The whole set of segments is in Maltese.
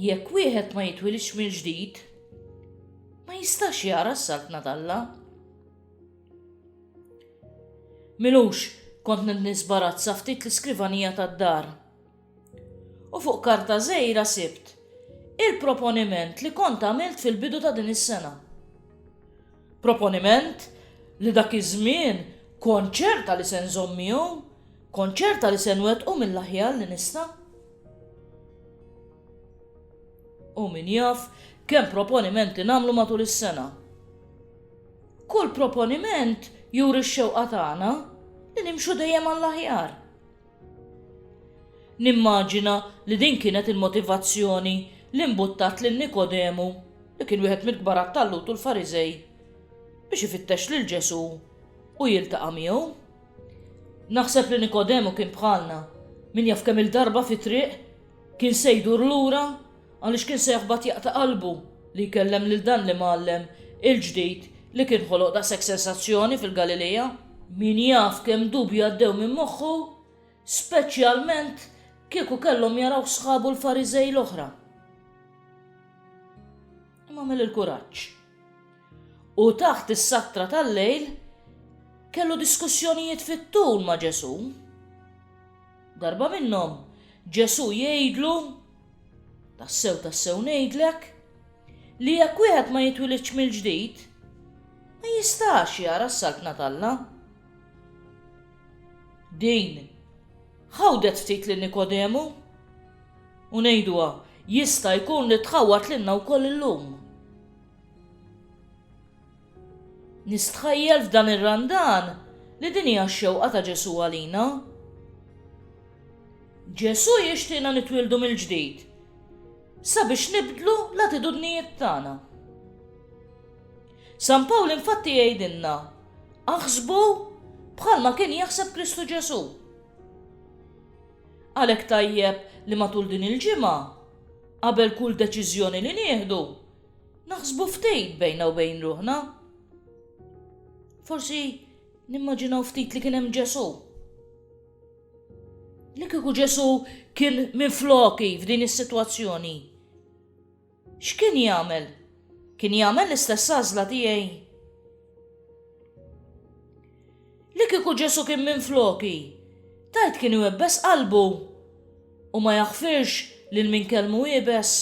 Jekk wieħed ma jitwilidx mill-ġdid, ma jistax jara s-saltna talla. Milux kont nisbarazza ftit l-iskrivanija tad-dar. U fuq karta żejra sibt il-proponiment li kont għamilt fil-bidu ta' din is-sena. Proponiment li dak iż-żmien kont ċerta li se nżomm miegħu, kont ċerta li se nwettqu mill-aħjar li nista'. U min jaf kemm proponimenti nagħmlu matul is-sena. Kull proponiment juri x-xewqa tagħna li nimxu dejjem għall-aħjar. Nimmaġina li din kienet il-motivazzjoni li mbuttat lil Nikodemu, li kien wieħed mill-kbar għat-tallut u l-Fariżej, biex ifittex lil Ġesù u jiltaqa' miegħu. Naħseb li Nikodemu kien bħalna, min jaf kemm-il darba fit-triq kien se jdur lura Għaliex kien se jaħbat jaqta' qalbu li jkellem lil dan l-imgħallem il-ġdid li kien ħoloq daqshekk sensazzjoni fil-Galilea? Min jaf kemm dubji għaddew minn moħħu, speċjalment kieku kellhom jarawh sħabu l-Fariżej l-oħra. Imma mel il-kuraġġ. U taħt is-sattra tal-lejl kellu diskussjonijiet fit-tul ma' Ġesù. Darba minnhom, Ġesù jgħidlu, Tassew, tassew ngħidlek, li jekk wieħed ma jitwilidx mill-ġdid, ma jistax jara s-saltna t'Alla. Din ħawdet ftit lil Nikodemu u ngħiduha jista' jkun li tħawwad lilna wkoll illum. Nistħajjel f'dan ir-Randan li din hija x-xewqa ta' Ġesù għalina. Ġesù jixtieqna nitwieldu mill-ġdid sabiex nibdlu l-attitudnijiet tagħna. San Pawl infatti jgħidilna, aħsbu bħalma kien jaħseb Kristu Ġesù. Għalhekk tajjeb li matul din il-ġimgħa, qabel kull deċiżjoni li nieħdu, Naħsbu ftit bejna u bejn ruħna. Forsi nimmaġinaw ftit li kien hemm Ġesù. Li kieku Ġesù kien minn floki f'din is-sitwazzjoni. X'kien jagħmel? Kien jagħmel l-istess għażla tiegħi? Li kieku Ġesu kien minn floki, tajt kien iwebbes qalbu u ma jaħfirx lil min kelmu ibes.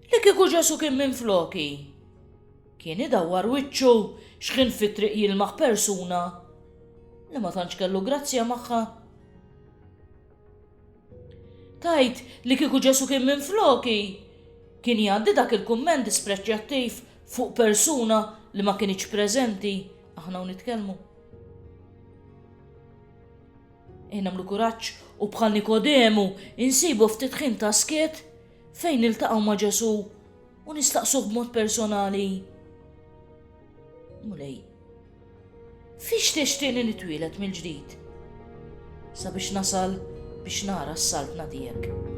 Li kieku Ġesu kien minfloki, kien idawwar wiċċu x'ħin fit-triq jilmaħ persuna li ma tantx kellu grazzja magħha. Tajt li kieku Ġesu kien minfloki, kien jgħaddi dak il-kumment dispreċjattiv fuq persuna li ma kienx preżenti aħna u nitkellmu. Nagħmlu kuraġġ u bħal Nikodemu insibu ftit ħin ta' skiet fejn niltaqgħu ma' Ġesù u nistaqsuh b'mod personali. Mulej, fiex tixtieni nitwielet mill-ġdid sabiex nasal biex nara s-saltna tiegħek.